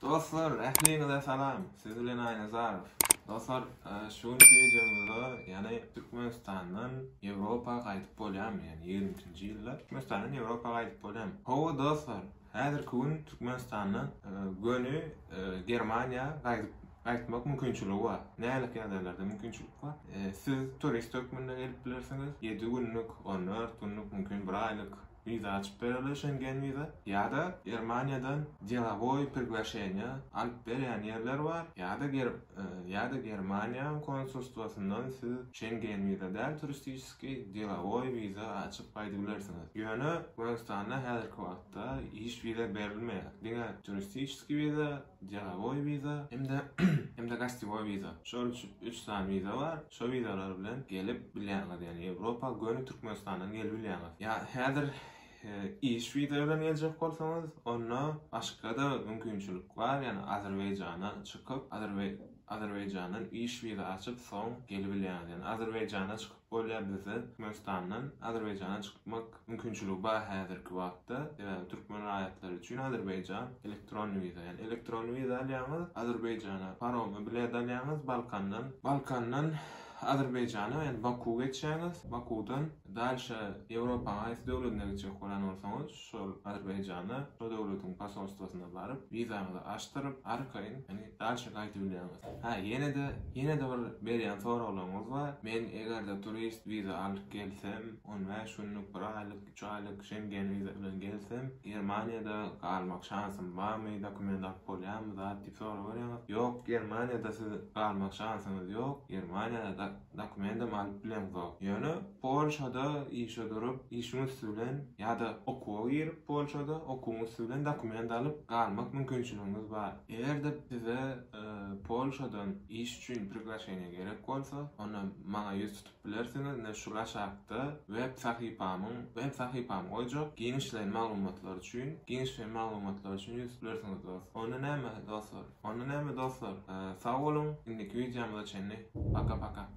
Dostlar ähliňize salam siz bilen Aýnazarow. Dostlar şu günki wideomyzda ýany Türkmenistandan Ýewropa gaýdyp bolýamy ýani ýigrimi üçinji ýylda Türkmenistandan Ýewropa gaýdyp bolýamy. Hawa dostlar häzirki gün Türkmenistandan göni Germaniýa gaýdyp gaýtmak mümkinçiligi bar. Nälik ýagdaýlarda mümkinçilik bar. Siz turist hökmünde gelip bilersiňiz ýedi günlük on dört günlük mümkin bir aýlyk Wiza açyp bererler Şengen wiza. Ýa-da Germaniýadan delowoý priglaşeniýa alyp berýän ýerler bar, ýa-da ger ýa-da Germaniýanyň konsulstwasyndan siz Şengen wiza däl, turistiçeskiý, delowoý wiza açyp gaýdyp bilersiňiz. Ýöne Gürgistanda häzirki wagtda iş wiza berilmeýär. Diňe turistiçeskiý wiza, Delowoý wiza hem-de hem-de gostiwoý wiza. Şol üç üç sany wiza bar. Şo wizalar bilen gelip bilýäňiz. Ýagny Ýewropa göni Türkmenistandan gelip bilýäňiz. Ýa häzir iş wiza bilen geljek bolsaňyz, onda başga-da mümkinçilik bar. Ýagny Azerbaýjana çykyp, Azerbaý Azerbaýjandan iş wiza açyp, soň gelibilýäňiz. Ýagny Azerbaýjana çykyp Bolýar bizde Türkmenistandan Azerbaýjana çykmak mümkinçiligi bar häzirki wagtda. Sebäbi türkmen raýatlary üçin Azerbaýjan elektron wiza. Ýagny elektron wiza alýaňyz, Azerbaýjana paromy bilet alýaňyz, Balkandan, Balkandan Azerbaýjana, ýagny Baku geçýäňiz, Bakudan dalşa Ýewropanyň haýsy döwledine gitjek bolan bolsaňyz, şol Azerbaýjana, şo döwletiň posolstwosyna baryp, wizaňyzy açdyryp, arkaýyn, ýagny, daşa gaýdyp bilýäňiz. Hä, ýene-de, ýene-de bir berýän soraglaryňyz bar, men eger-de turist wiza alyp gelsem, on bäş günlük, bir aýlyk, üç aýlyk Şengen wiza bilen gelsem, Germaniýada galmak şansym barmy, dokument alyp bolýarmy zat diýip sorag berýäňiz. Ýok, Germaniýada siziň galmak şansyňyz ýok, Germaniýada Dokumendem alyp bilemzok. Ýöne Polşada işe durup, işiň üsti bilen ýa-da okuwa girip Polşada, okuwyň üsti bilen dokument alyp galmak mümkinçiligiňiz bar. Eger-de size Polşadan iş üçin priglaşeniýe gerek bolsa, onda maňa ýüz tutup bilersiňiz. Ine şul aşakda web sahypamyň, web sahypamy goýjak, giňişleýin maglumatlar üçin, giňişleýin maglumatlar üçin ýüz tutup bilersiňiz dost. Onda näme dostlar? Onda näme dostlar? Sag boluň, indiki wideomyza çenli, paka-paka!